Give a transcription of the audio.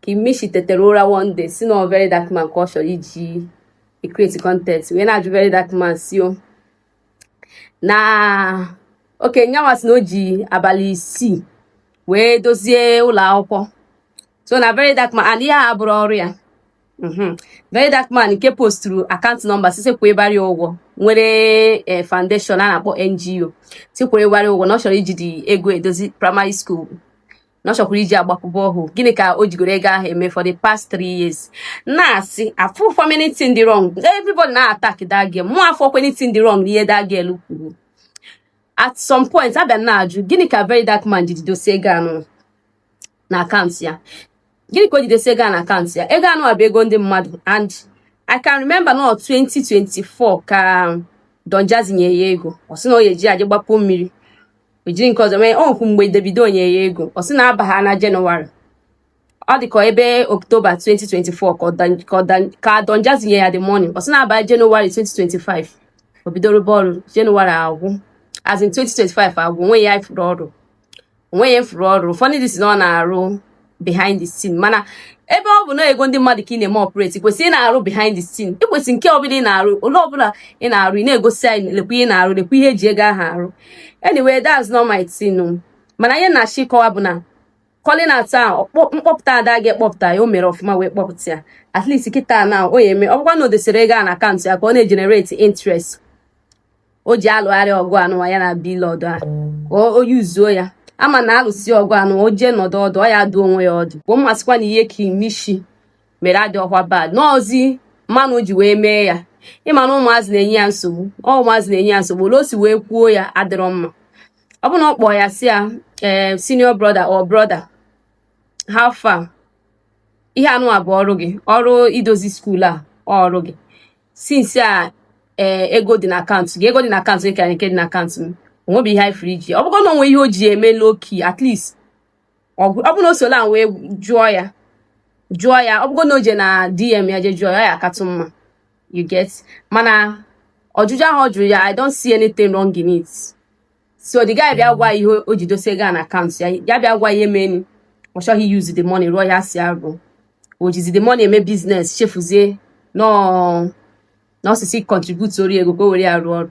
King Mitchy tetere ụra one day sị na very dark man ka ọ chọrọ iji create content wee na-ajụ very dark man sị o na okay nyanwa sị na o ji abalị isii wee dozie ụlọ akwụkwọ so na very dark man and ihe a bụrụ ọrụ ya mhm. very dark man nke posturu akaụntụ nọmba sị sị kwụbara ya ụgwọ nwere eh, foundation a na-akpọ NGO sị kwụbara ụgwọ na ọ chọrọ iji the ego edozi primary school na ọ chọkwara iji agbakwu borehole gịnị ka o jigoro ego ahụ eme for the past three years na-asị afụrọ m anything dị wrong everybody na attack that girl mụ afụrọkwa anything dị wrong n'ihe that girl kwuru at some point a bịa na-ajụ gịnị ka very dark man ji ji dosi ego anụ na akaụntụ ya gịnị ka o ji dosi ego na akaụntụ ya ego anụ a bụ ego ndị mmadụ and I can remember na 2024 ka Don Jazzy nye ya ego ọ sị na ọ ya eji ya je gbapụ mmiri o jiri nke ọzọ mee onwekwu mgbe Davido nye ya ego ọ sị na a baa na Jenụwarị ọ dị ka ebe Oktoba 2024 ka Don Jazzy nye ya the money ọ sị na a baa Jenụwarị 2025 o bido rụba ọrụ Jenụwarị agwụ as in 2025 agwụ onweghị ihe a fụrụ ọ rụrụ onweghị ihe a fụrụ ọ rụrụ ụfọdụ ndị sị na ọ na-arụ behind the scene mana ebe ọ bụ na ego ndị mmadụ ka ị na-eme operate i kwesịrọ ị na-arụ behind the scene i kwesị nke ọbụla ị na-arụ ole ọbụla ị na-arụ ị na-egosi anyị lekwa ihe ị na-arụ lekwa ihe eji ego ahụ arụ anyway that's not my thing mana ihe na-achọ ịkọwa bụ na calling out ahụ mkpọpụta that girl kpọpụta ya o mere ọfụma wee kpọpụta ya at least kịta na ọ ya eme ọ gwakwa na o dosere ego a na akaụntụ ya ka ọ na-egenerate interest o ji alụgharị ọgụ anụwa ya na Blord a o yuzuo ya ama na alụsi ọgụ anụ o jee nọdụ ọdụ ọ ya dụ onwe ya ọdụ but m asịkwa na ihe King Mitchy mere adịrọkwa bad n'ọzị manner o ji wee mee ya ị ma na ụmụazị na-enye ya nsogbu ọ ụmụazị na-enye ya nsogbu ole o si wee kwuo ya adịrọ mma ọ bụ na ọ kpọọ ya sị ya ee eh, senior brother or brother how far ihe anụ a bụ ọrụ gị ọrụ idozi skuul a ọrụ gị since a ee eh, ego dị na akaụntụ gị ego dị na akaụntụ gị karịa nke dị na akaụntụ m onwebeghị ihe anyị fụrụ i ji ọ bụgo na onwe ihe o ji eme low key at least ọ bụrụ na o si ole a wee jụọ ya jụọ ya ọ bụgo na o je na dm ya je jụọ ya ọ ya akatụ mma you get mana ọjụjụ ahụ ọ jụrụ ya i don't see anything wrong in it so the guy bịa gwa ihe o ji dosie ego a na akaụntụ ya ya bịa gwa ihe menụ ọ chọghị use the money rụọ ihe a sị ya rụọ o jizi the money eme business chefuzie na ọ sị sị contributeoro ya ego ka o were ya rụọ ọrụ